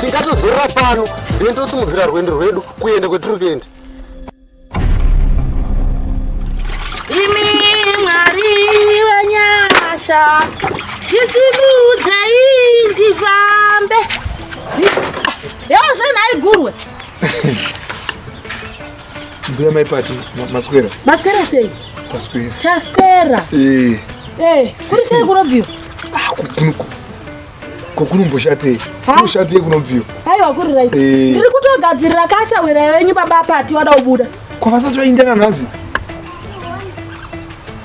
tingatozorora pano then tosimudzira rwendo rwedu kuenda kwetiri kuenda imi mwari wenyasha ndisimudzai ndifambe yozve nhaigurwe Mbuya mai pati maswera. Maswera sei? Maswera. Taswera. Eh. Eh, kuri sei kunobviwa? Ah, kukunuko. Kokunomboshatei? Kunoshatei kunobviwa? Haiwa kuri right. Eh. Ndiri kutogadzirira kasa wera yenyu baba pati wada kubuda. Kwavasati vaindana nhasi.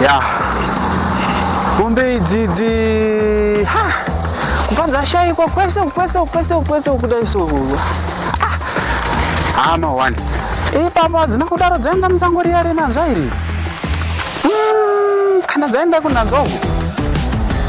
ya mombe idzidzi ha kubva dzashaikwa kwese kwese kwese kwese kudai so ah. hama one ipapa dzina kudaro dzainga musango riya renanzva iri Mm, kana dzaenda kunanzongo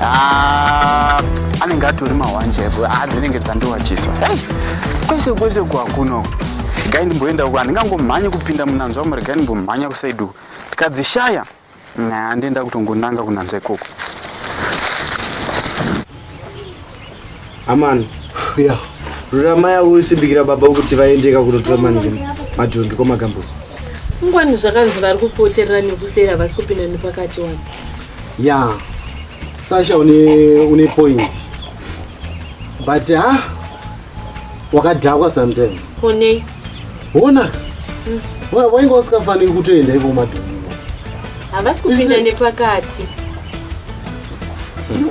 ah, anenge atori mahwanje avo ah, dzinenge dzandiwachisa hey, kwese kwese kwakuno regai ndimboenda uko handingangomhanye kupinda munanzvamo regai ndimbomhanya kusaidi uko ndikadzishaya nandenda kutongonanga kunanzva ikoko Amana. Yeah. Rurama yavo usimbikira baba ukuti vaendeka kunotora manike madhongi kwamagambuzo. Ngwani zvakanzi vari kupoterera nekuseri havasi kupinda nepakati wani. Yeah. Sasha une une point. But ha ah, wakadhakwa sometime. Onei. Hona. Wa wainge usikafaniri kutoenda ivo madhongi. Havasi kupinda nepakati.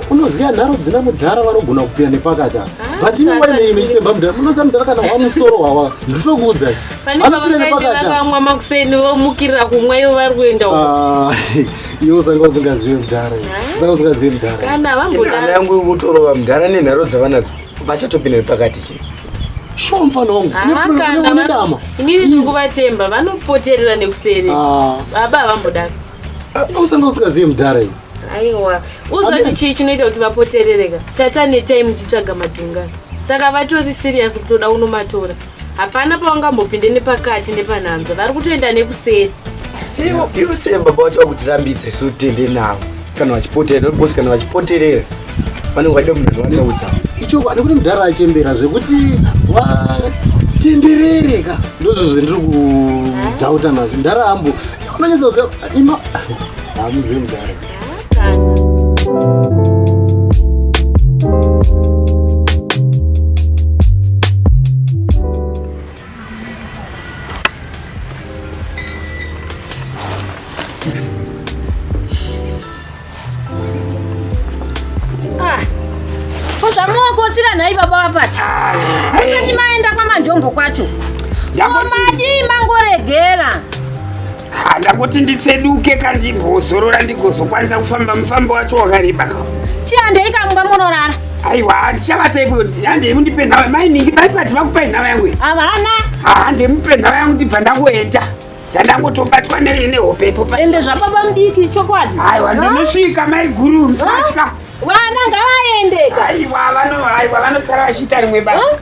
Unoziva nharo dzina mudhara vanogona kupinda nepakati apa. Ah, But ini waine imi chitemba mudhara. Munoziva mudhara kana wamusoro wawa. Nditokuudza. Pane pavakaenda vamwa makuseni vomukirira kumwa ivo vari kuenda uko. Ah, iwe usanga usingazive mudhara. Ah. Usanga usingazive mudhara. Kana vambodaro. Ana yangu kutorova mudhara nenharo dzavanadzo. Vachatopinda nepakati chete. Sure mfana wangu. Hamakanda vanodama. Inini ndikuvatemba vanopoterera nekuseri. Ah. Baba havambodaro. Ah, Usanga usikaziye mudhara iwe. Aiwa. Uzoti chii chinoita kuti vapoterereka? Tata netai muchitsvaga madhunga. Saka vatori serious kutoda unomatora. Hapana pawangambopinde nepakati nepanhanzva. Vari kutoenda nekuseri. Siwo iwe sei baba wacho vakutirambidza isu tende navo kana vachipoterera ndokuposi kana vachipoterera vanenge vaida munhu zvavataudza ichokwadi kuti mudhara achembera zvekuti watenderere ka ndozvo zvendiri kudhauta nazvo mudhara ambo unonyatsa kuziva ima hamuzivi mudhara Ah, ko zvamuokosira nhai baba vapati ah, musati maenda kwamanjombo kwacho omadii mangoregera ah, ndakoti nditseduke kandimbozorora ndigozokwanisa kufamba mufambo wacho wakareba ka chiandei kamumba munorara aiwa handichavata ipo handei mundipe nhau mainingi baipati vakupai nhau yangu ii havana handemupe nhau yangu ndibva ndakuenda ndandangotobatwa nei nehope ipo ende zvababa mudiki chokwadi aiwa ndinosvika mai guru musatya vana ngavaendeka aiwa vano aiwa vanosara vachiita rimwe basa huh?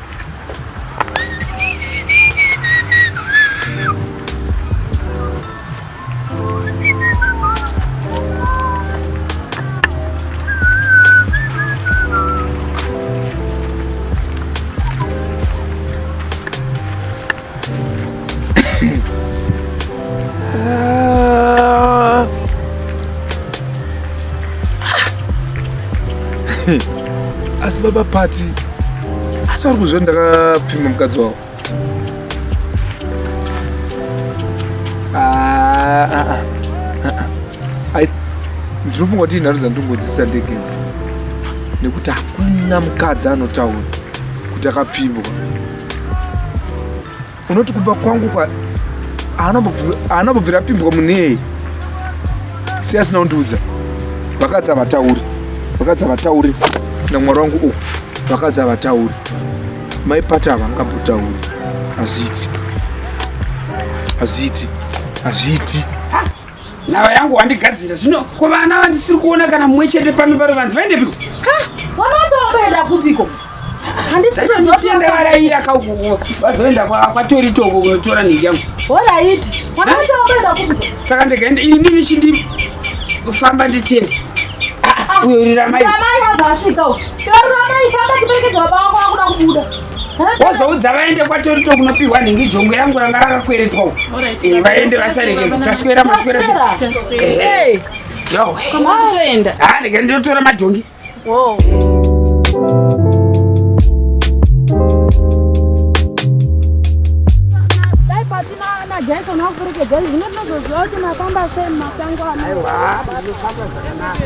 asi baba pati asi vari kuzve ndakapfima mukadzi wavo ah, ah, ah, ndinofunga kuti inharo dzandingodzisa ndegezi nekuti hakuna mukadzi anotaura kuti akapfimbwa unoti kumba kwangu kwa haana bvira apimbwa munei si asina kundiudza vakadzi havatauri vakadzi havatauri namwari wangu u vakadzi havatauri maipata havangambotauri hazviiti hazviiti hazviiti nhava yangu wandigadzira zvino ko vana vandisiri kuona kana mumwe chete pano pano vanzi vaendepiko vana vacho vamboenda kupiko handisikutozivaaraira kaukuko vazoenda kwatori toko kunotora nhingi yangu horaiti vana vacho vamboenda kupiko saka ndikaenda ini ndichindi kufamba nditenda ah, ah, uyo uriramai ramai azasvika uyo ramai famba tiperekedza baba wako akuda kubuda wozoudza vaende kwatorito kunopihwa nhingi jongwe rangu ranga rakakweretwa uko eh, vaende vasarekeze taswera maswera se eh, yoenda ah, ndege ndinotora madhongi Jason wafurike gari zvino tinozoziva kuti mafamba sei mumasango ano. Aiwa, mafamba zvakanaka.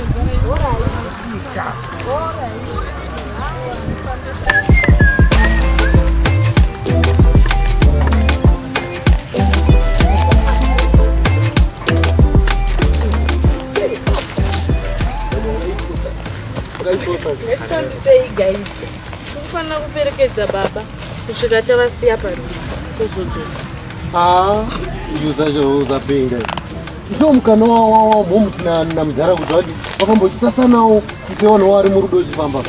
Hetambisei guys. Kufanira kuperekedza baba kusvika tavasiya parwizi tozodzoka. Ah, you such a loser being there. ndiwo mukana wamhomuti namudhara kuti vati vafamba uchisasanawo kuti vanhu waari murudo uchifamba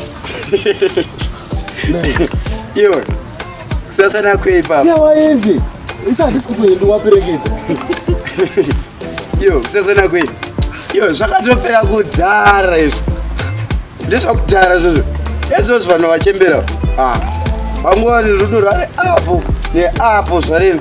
iwe kusasana kweipa siya waende isi hatisi kutoende waperekedza iwe kusasana kwei iwe zvakatopera kudhara izvo ndezvakudhara izvozvo ezvozvo vanhu vachembera ah, vanguva nerudo rwari apo neapo zvareno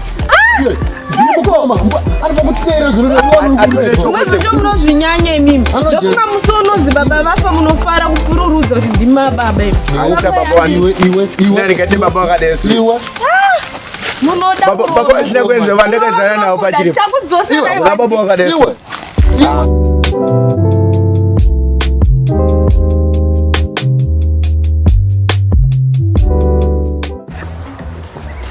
munozvinyanya imimi ndofunga musi unonzi baba vafa munofara kupururudza kuti ndima baba imunodakuenzavandakazana navo pachiri baba wakadaiwa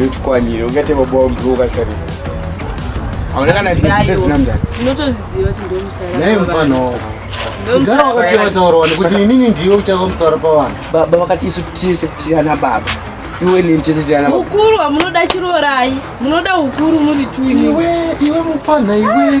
Yochikwanire ungate bobo mbru ukatarisa. Hauna kana ndizise zina mdara. Ndinotozviziva kuti ndiwe musara. Naye mfano. Mdara wakati wataura wani kuti inini ndiwe uchava musara pavanhu. Baba vakati isu tise kuti ana baba. Iwe ni mtese tira ana baba. Ukuru wamunoda chirorai. Munoda ukuru muri tu iwe. Iwe iwe mfana iwe.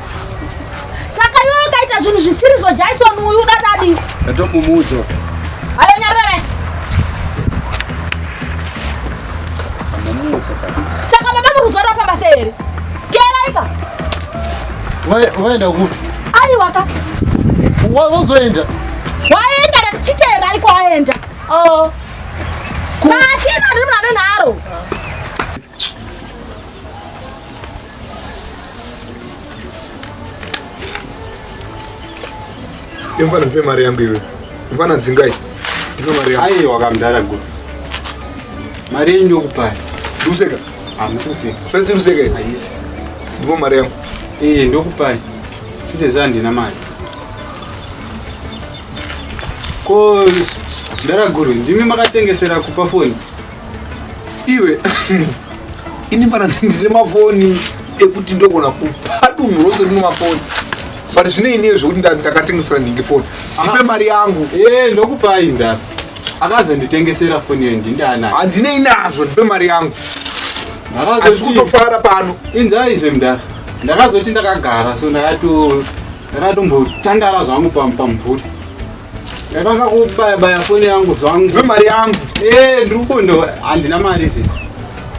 saka iwe ukaita zvinhu zvisiri zvo jaison uyu udatadi ndatomumudzo ayo nyarere saka baba muruziwa rafamba se here teeraika waenda kupi aiwaka wazoenda waenda ndatichiteeraiko aenda ah. Mfana nipe mari yangu iwe. Mfana dzingai. Nipe mari yangu. Aiwa kamdara go. Mari yenyu ndokupai. Ruseka. Ah, mususe. Fesi ruseka. Ah, yes. Ndipo mari yangu. Eh, ndokupai. Sise zvandina mari. Ko Dara Guru, ndimi makatengesera kupa foni? iwe ini pana ndine mafoni ekuti ndogona kupa dunhu rose rino mafoni but zvine ini zvekuti ndakatengesera ndinge foni ipe mari yangu eh, ndokupai nda akazonditengesera foni iyo ndindaana handine inazvo ndipe mari yangu handisi kutofara pano inzaizve mda ndakazoti ndakagara so ndakatombotandara zvangu pamumvuri Ndatanga kubaya baya foni yangu zvangu. Ve mari yangu. Eh, ndiri kundo handina mari sisi.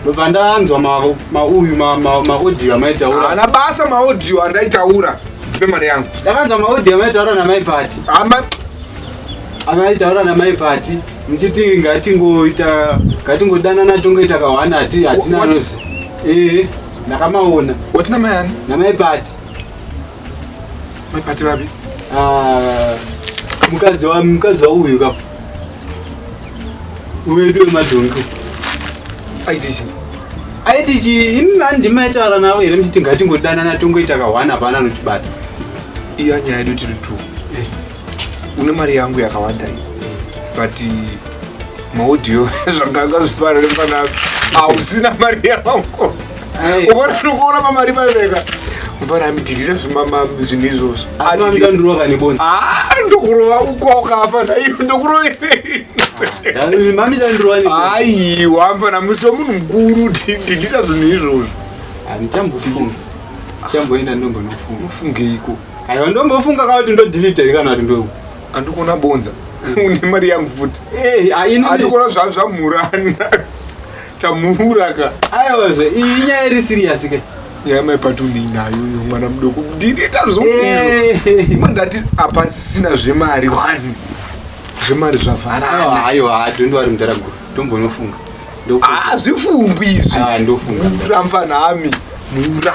Ndobva ndanzwa ma ma uyu ma ma, ma audio amaitaura. Ana basa ma audio andaitaura. Ve mari yangu. Ndakanzwa ma audio amaitaura na mai party. Ama amaitaura na mai party. Mchiti ngati ngoita ngati ngodana na tongo itakawana ati hatina nozi. Eh, ndakamaona. Watina mai ani? Na mai party. Mapati vapi? Ah, mukadzi wa mukadzi wa uyu kapo. Uwe ndiwe madhonki. Aitisi. Aitisi imi mandi maitaura navo here muchiti ngatingodanana tongoita kahwana hapana anotibata. Iya nyaya yedu tiri two. Eh. une mari yangu yakawanda iyo but maudio zvanga akazvipara nepanapi hausina mari yangu uona ndikuona pamari paiveka mvana amidhirira zvimama zvinhu izvozvo ah, ndokurova ukokafa naiyo ndokuroverei aiwa mfana musi wemunhu mukuru dhidhira zvinhu izvozvo handichambofunga chamboenda ndombonofunga unofungeiko aiwa ndombofunga ka kuti ndodilita here kana kuti ndo andikuona bonza une mari yangu futi Eh, ah, ini- andikuona zva- zvamhurana chamhura ka aiwazve iyi nyaya iri serious ke nyaya maipati uneinayo uyo mwana mudoko dilita zvokuizvo Eh. imwe ndati apa sisina zvemari wani zvemari zvavharana Aiwa, aiwa ah, don't worry mdara guru ndombonofunga Ndoku- hazvifungwi izvi Ah, ndofunga. mura mfanami mura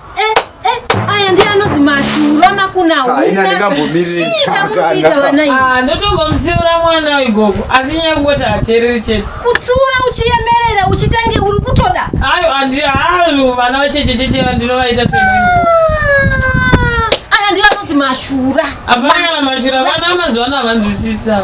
Ah, ndotombomutsiura mwana wegogo asi nyaya kungoti hateereri chete kutsiura uchiyemerera uchitange uri kutoda ayo andiayo vana vachechecheche ndinovaita se ah, aya ndivanonzi mashura apana mashura vana mazuva ano havanzwisisa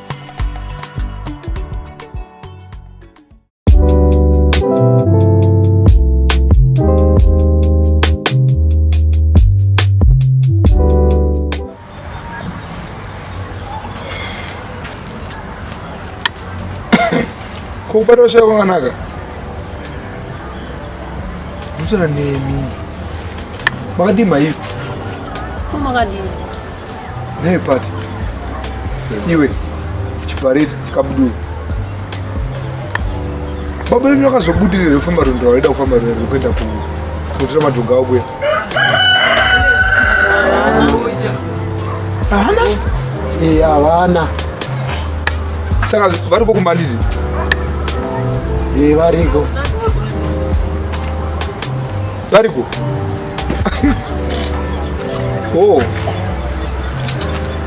kupata ushaya kwakanaka ndosara nemi makadii maivi makadii Hey, Pati. Iwe, chipareti, chikabuduru. Baba vedu vakazobudirira kufamba rwendo rwaida kufamba rwendo rwekuenda kunotora madhonga avo kuya. Havana? Eh, havana. Saka variko kumba nditi? Eh, variko. Variko? oh.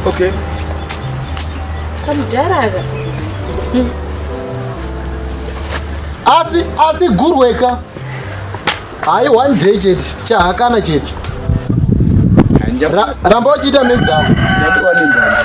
Okay. Kamudharaga. Hmm. Asi asi gurweka. Hayi one day chete tichahakana chete. Ramba uchiita nedzavo. Ndatowa nenzanga.